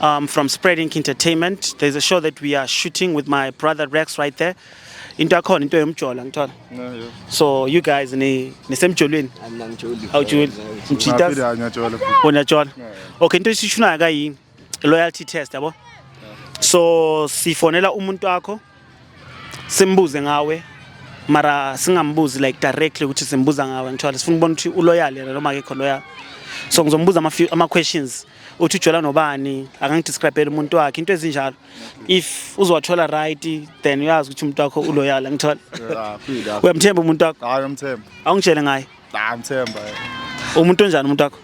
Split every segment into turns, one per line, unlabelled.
Um, from Spreading Entertainment. There's a show that we are shooting with my brother Rex right there. Into yakhona into yomjola ngithola. So you guys ni nisemjolweni. Angijoli. Awujoli. Mjita. Unajola. Okay, into esishunayo kayini? Loyalty test yabo. So sifonela umuntu wakho. simbuze ngawe mara singambuzi like directly ukuthi simbuza ngawe ngithola sifuna ukubona ukuthi uloyal yena noma akekho loyal so ngizombuza ama ama questions uthi ujola nobani akangidescribele umuntu wakhe into ezinjalo if uzowathola right then uyazi ukuthi umuntu wakho uloyal ngithola uyamthemba umuntu wakho hayi umthemba awungitshele
ngaye
Nah, ngithemba.
Umuntu
onjani umuntu wakho?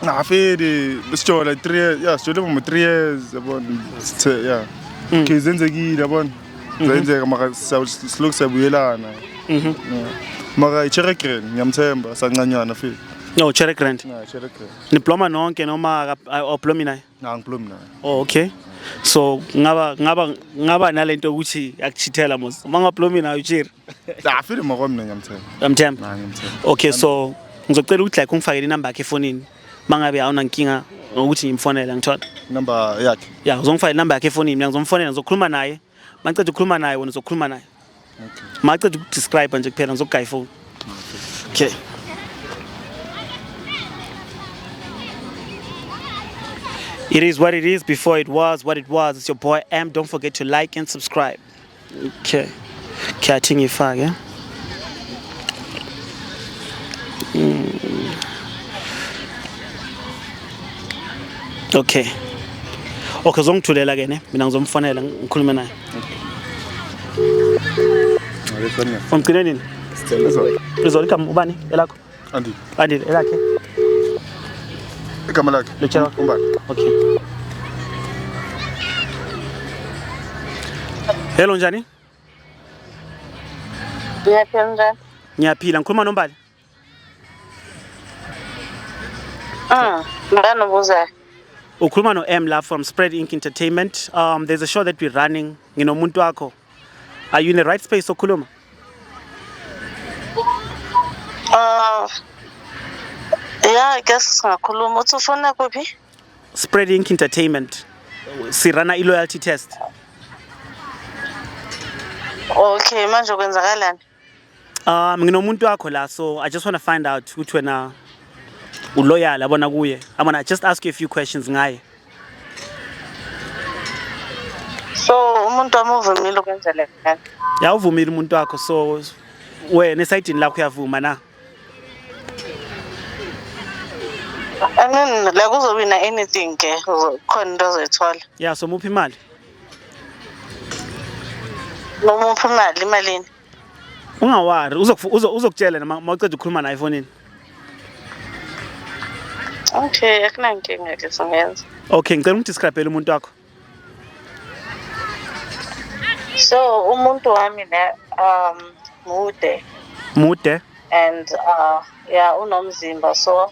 Ngafedi
sijola 3 years. Yeah, sijola mu 3 years yabona. Sithe yeah. Mm. Kizenzekile yabona. Mhm. Zenzeka maka silokhu sabuyelana. Mhm. Maka iChere Green ngiyamthemba sancanyana fika. No, Cherry Grant. No, Cherry Grant. Niploma nonke noma
awuplomi naye? Cha, ngiplomi naye.
Oh, okay.
So ngaba ngaba ngaba nalento ukuthi akuchithela mos. Uma ngaplomi nayo Cherry. Nah, feel more
mina ngiyamthemba. Uyamthemba? Nah,
ngiyamthemba.
Okay, so
ngizocela ukuthi like ungifakele inamba yakhe efonini. Mangabe awuna nkinga ngokuthi ngimfonele ngithola. Number yakhe.
Yeah, uzongifakela inamba yakhe
efonini, mina ngizomfonela ngizokhuluma naye. Maqeda ukukhuluma naye wena uzokhuluma naye. Okay. Maqeda ukudescribe nje kuphela ngizokugaya ifoni. Okay. okay. It is what it is before it was what it was. It's your boy M. Don't forget to like and subscribe. Okay. Kyathi ngifake. Mm. Okay. Okay, uzongithulela ke ne? Mina ngizomfonela ngikhulume naye. Umgcine nini? Izolo igama ubani elakho? Andile. Andile
elakhe. Igama lakhe. Lutshela umbali.
Okay. Hello njani? Ngiyaphila
njani? Ngiyaphila ngikhuluma
nombali. Ah,
mbani ubuzayo? Ukhuluma no
M la from Spread Ink Entertainment. Um there's a show that we're running nginomuntu wakho are you in the right space sokhuluma
uh, yeah i guess singakhuluma uthi ufuna kuphi spread ink
entertainment sirana i-loyalty test
okay manje kwenzakalani Um
nginomuntu wakho la so I just want to find out ukuthi wena uloyal abona kuye. I want to just ask you a few questions ngaye.
So umuntu amuvumile ukwenza le nto. Yawuvumile umuntu
wakho so wena esayidini lakho uyavuma na?
I mean la kuzobe na anything ke khona into ozoyithola. Yeah so muphi imali? Noma uphi imali imalini? Ungawari
uzokutshela noma mawuceda ukukhuluma naye efonini.
Okay,
akunankinga ke
singenza.
Okay, ngicela ungidescribele umuntu wakho.
So umuntu wami ne um mude. Mude.
And uh
yeah unomzimba so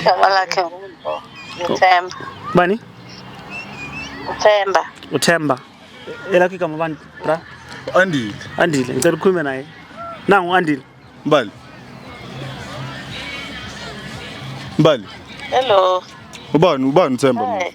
Igama lakhe uThemba. Bani? uThemba. UThemba.
Elakhe igama bani bra? Andile.
Andile, ngicela
ukhulume naye. Nangu Andile. Mbali.
Mbali. Hello.
Ubani
ubani uThemba manje?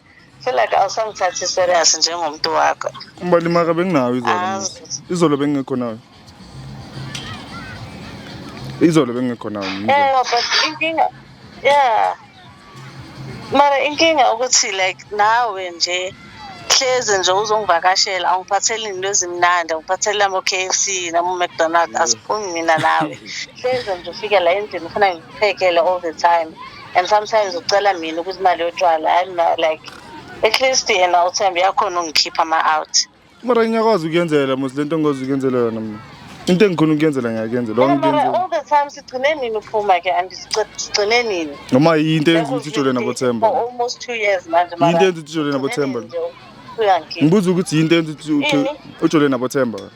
feel like awusangithathi serious njengomuntu wakho ubalimaka benginayo
izolo Azi. izolo bengingekho nayo izolo bengingekho nayo mina. Eh, but
inkinga yeah mara inkinga ukuthi like nawe nje hleze nje uzongivakashela awungiphatheli into ezimnandi awungiphatheli amo-k f c namo-mcdonald asiphumi mina nawe hleze nje ufike la endlini ufuna ngikuphekele all the time and sometimes ucela mina ukuthi imali yotshwala hayi mina like at least yena uthembe yakhona ungikhipha ama-out mara ngiyakwazi
ukuyenzela mos le nto ngikwazi ukuyenzela yona mna into engikhona ukuyenzela ngiyakuyenzela Yeah, mara wangikuyenzela all the time
sigcine nini uphuma ke and sigci- sigcine nini noma yinto eyenza ukuthi
ujole nabothemba For almost two years
manje mara yinto eyenza ukuthi ujole nabothemba
sigcine nini nje? Uyangikhipha.
ngibuza ukuthi yinto eyenza
ukuthi uthi- Ini? ujole nabothemba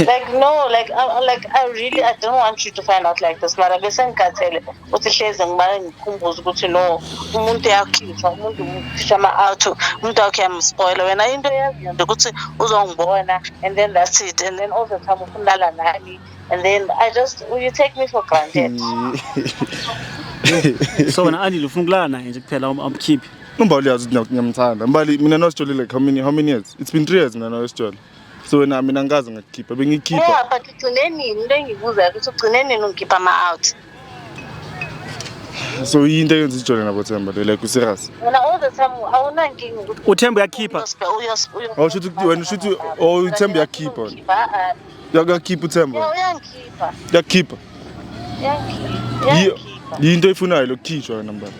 like no like I, like I really I don't want you to find out like this mara bese ngikhathele ukuthi hleze ngimane ngikhumbuze ukuthi no umuntu uyakhishwa umuntu ukhishwa ama-auto umuntu wakhe yamspoila wena into eyaziyo nje ukuthi uzongibona and then that's it and then all the time ufunala nami and then I just you take me for granted
so wena andile ufuna ukulala naye nje kuphela amkhiphi Umbali yazi ukuthi
ngiyamthanda. Mbali mina no Sithole like how many how many years? It's been 3 years mina no Sithole. So wena mina ngikaze ngakukhipha bengikhipha. Yeah, but ugcine
nini into engibuzayo ukuthi ugcine nini ungikhipha ama out?
So yinto eyenza ijole nabo Themba le like userious. Wena all the time awunankinga
ukuthi uthemba
uyakhipha. uyosbe
uyosbe. Awusho ukuthi wena usho ukuthi oh uthemba uyakhipha. Ukhipha, ah, ah. Yakakhipha uThemba. Yeah, uyangikhipha.
Yakhipha.
Uyangikhipha.
Yiyo Uyangikhipha. yinto
efunayo lokukhishwa wena mbaba.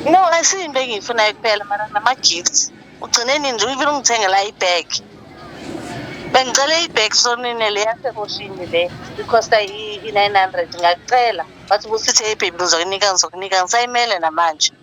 No, asiyinto engiyifunayo kuphela mara nama-gifts. Ugcine nini nje even ungithengela i-bag. Bengicele i-bag sonine le yasekoshini le. Ikhosta i-900 ngakucela. Wathi ubusithi hey baby ngizokunika ngizokunika ngisayimele namanje.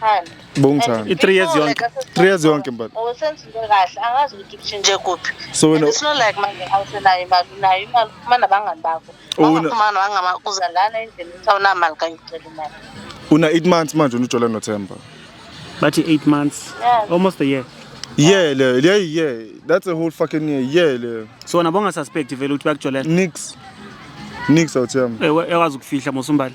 Thando. Bongithanda. And I-three
years people yonke. like
us- Three years yonke mbali.
Oh, senza into kahle
angazi ukuthi kushintshe kuphi So wena- And it's not like manje awusenayo imali unayo
imali
uphuma nabangani bakho Una- wangaphuma nabangama uza lana endlini ukuthi awunamali kanye ucela imali Una 8 months
manje unojola noThemba. bathi
eight months Yeah. almost a year Yeah
le, yeah yeah. That's a whole fucking year. Yeah le. so wona bongasuspect
vele ukuthi bakujolela Nix.
Nix awuThemba. Eh, we- ekwazi ukufihla
mosumbali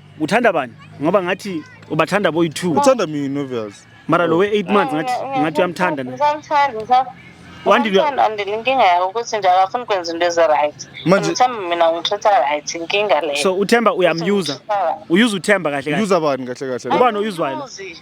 uthanda bani ngoba ngathi ubathanda boyi-two uthanda mina obvious
mara lo we-eight months
ngathi ngathi uyamthanda na Ngisamthanda, ngisam- Wandile- ngisamthanda,
Wandile, inkinga yakho ukuthi nje akafuni ukwenza into ezi-right Manje- ngithemba mina ngithatha right inkinga leyo so uthemba uyamyuza
uyuza uthemba kahle kahle user bani kahle kahle Ubani
oyuzwayo? Angimyuzi.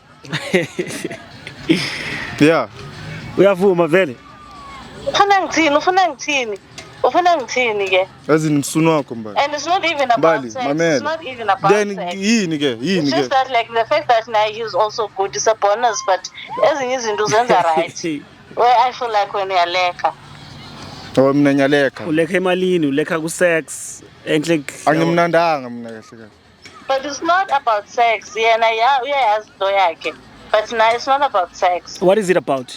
yeah uyavuma
vele ufuna ngithini ufuna ngithini
ufuna ngithini ke as in msunu wakho
mbali and it's not even
about sex it's not even about then yini ke
yini
ke just
that like the
fact that now he's also good is a bonus but ezinye izinto zenza right where i feel like when uyaleka Oh
mina ngiyalekha. Ulekha emalini, ulekha
ku sex. Enhle. Angimnandanga
mina kahle kahle. but it's not
about sex yena ya uyayazi into yakhe but naye it's not about sex what is it about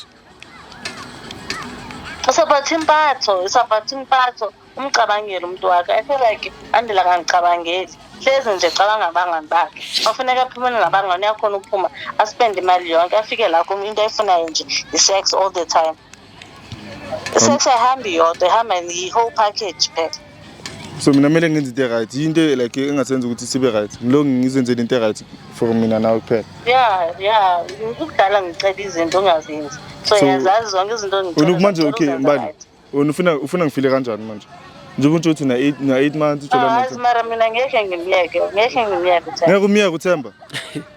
it's
about impatho it's about impatho umcabangele umuntu wakhe i feel like andela kangicabangeli hlezi nje cabanga abangani bakhe ofuneka aphumele nabangani uyakhona ukuphuma aspende imali yonke afike la kum into ayifunayo nje i-sex all the time Sex ayihambi yodwa ihamba yi-whole package phela so mina
kumele ngenze into e-right yinto e- like engasenza ukuthi sibe right ngilonge ngizenzele into e-right for mina nawe kuphela ya ya
ukudala ngicela izinto ongazenzi so So, yazazi zonke izinto wena engicela kumanje zona, okay ngicela mbali
uzenze wena ufuna ufuna ngifile kanjani manje njengoba utsho ukuthi na-eight na-eight months right. utshola Ah, azi mara mina ngeke
ngimyeke ngeke ngimyeke Themba. ngeke
umyeke uthemba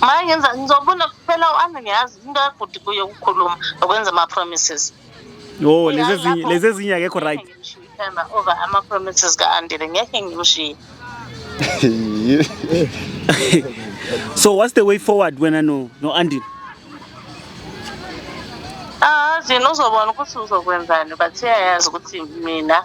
manje ngiza- ngizobona kuphela u-ana ngiyazi into yagudi kuye ukukhuluma nokwenza ama-promises Oh, lezi Uyazi ezinye lapho-
lezi ezinye akekho right. Ngeke ngimshiye uThemba over
ama-promises ka-andile ngeke ngimshiye
So what's the way forward wena no no Andy? azi
nozobona ukuthi uzokwenzani but uyayazi ukuthi mina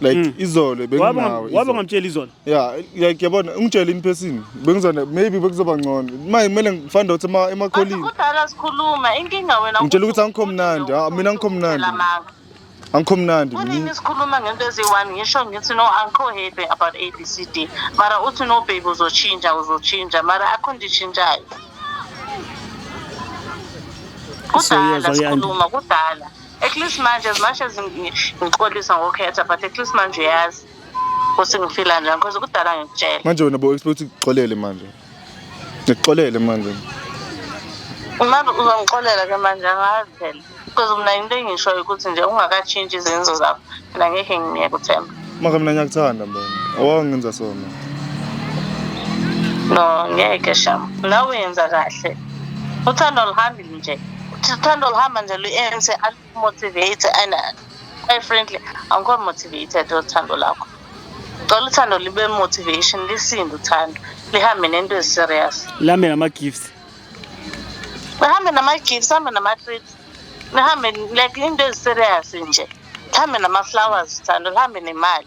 like mm. izolo benginawe wabe ngamtshela izolo
yeah like yabona
ungitshela in person bengizona maybe bekuzoba ngcono manje kumele ngifande ukuthi ema emakholini kudala sikhuluma
inkinga wena ngitshela ukuthi angikho mnandi
ah, mina angikho mnandi angikho mnandi mina sikhuluma ngento
eziyi-one ngisho ngithi no angikho happy about a b c d mara uthi no baby uzotshintsha uzotshintsha mara akho nditshintshayo kudala sikhuluma kudala at least manje as much as ngixolisa ngokhetha but at least manje uyazi ukuthi ngifila njani because kudala ngikutshela manje wena bo expect
ukuxolele manje ngikuxolele manje manje
uzongixolela ke manje angazi phela because mina into engishoyo ukuthi nje ungakatshintshi izenzo zakho mina ngeke ngingiyeke uthemba maka mina ngiyakuthanda
mbo awangenza sona no
ngeke sham nawe yenza kahle uthando luhambi nje sithanda oluhamba nje lu-ANC alumotivate and quite frankly angikho motivated othando lakho cela uthando libe motivation lisinde uthando lihambe nento eziserious lihambe nama-gifts
lihambe
nama-gifts hambe nama-treats lihambe like into eziserious nje lihambe nama-flowers thando lihambe nemali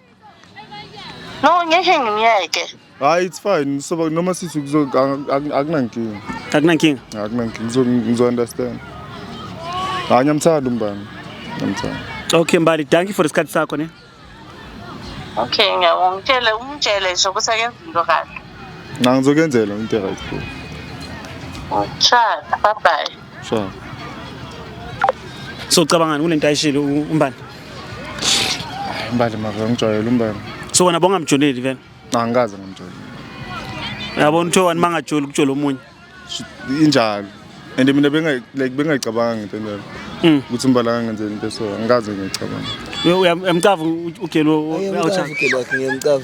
No, ngeke ngimyeke. Hayi it's fine.
So noma sithi kuzo akunankinga. Akunankinga.
Akunankinga. Ngizo
ngizo understand. Hayi ngiyamthanda umbani. Ngiyamthanda. Okay Mbali,
thank you for isikhathi sakho ne.
Okay, ngiyabonga. Ngitshele umtshele nje ukuthi akenze into kahle. Ngangizokenzela
into right. Cha, bye bye.
so
so ucabangani kule nto ayishilo umbani
imbali maka ngijwayele umbani so wena bongamjoleli
vele angikaze ngamjoleli yabona uthiwa wani mangajoli ukujola omunye injalo
and mina benga like bengayicabanga into leyo Mm. ukuthi umbala kangenzeni into so angikaze ngiyicabanga uyamcava
ugelo Ngiyamcava ugelo wakhe
ngiyamcava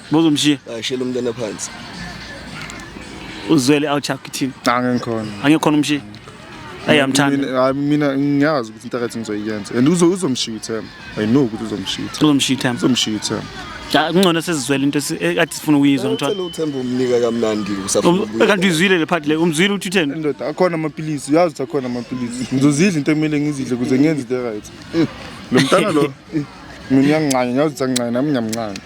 Bozomshiya. Ashela
umntana phansi.
Uzwele
awuchaka kithini? Cha ngikhona. Angikhona umshiya. Ayamthanda. Hayi mina
ngiyazi ukuthi into akathi ngizoyenza. And uzo uzomshiya uThemba. I know ukuthi uzomshiya. Uzomshiya uThemba. Uzomshiya uThemba. Ja kungcono sesizwele
into eh, ekade sifuna ukuyizwa ngithola. Ucela uThemba umnika
kamnandi usafuna. Um, kanti izwile le part le
umzwile uthi utheni? Ndoda akhona amapilisi
uyazi ukuthi akhona amapilisi. Ngizozidla into ekumele ngizidle kuze ngenze into right. Lo mntana lo mina uyangincane ngiyazi ukuthi angincane nami ngiyamncane.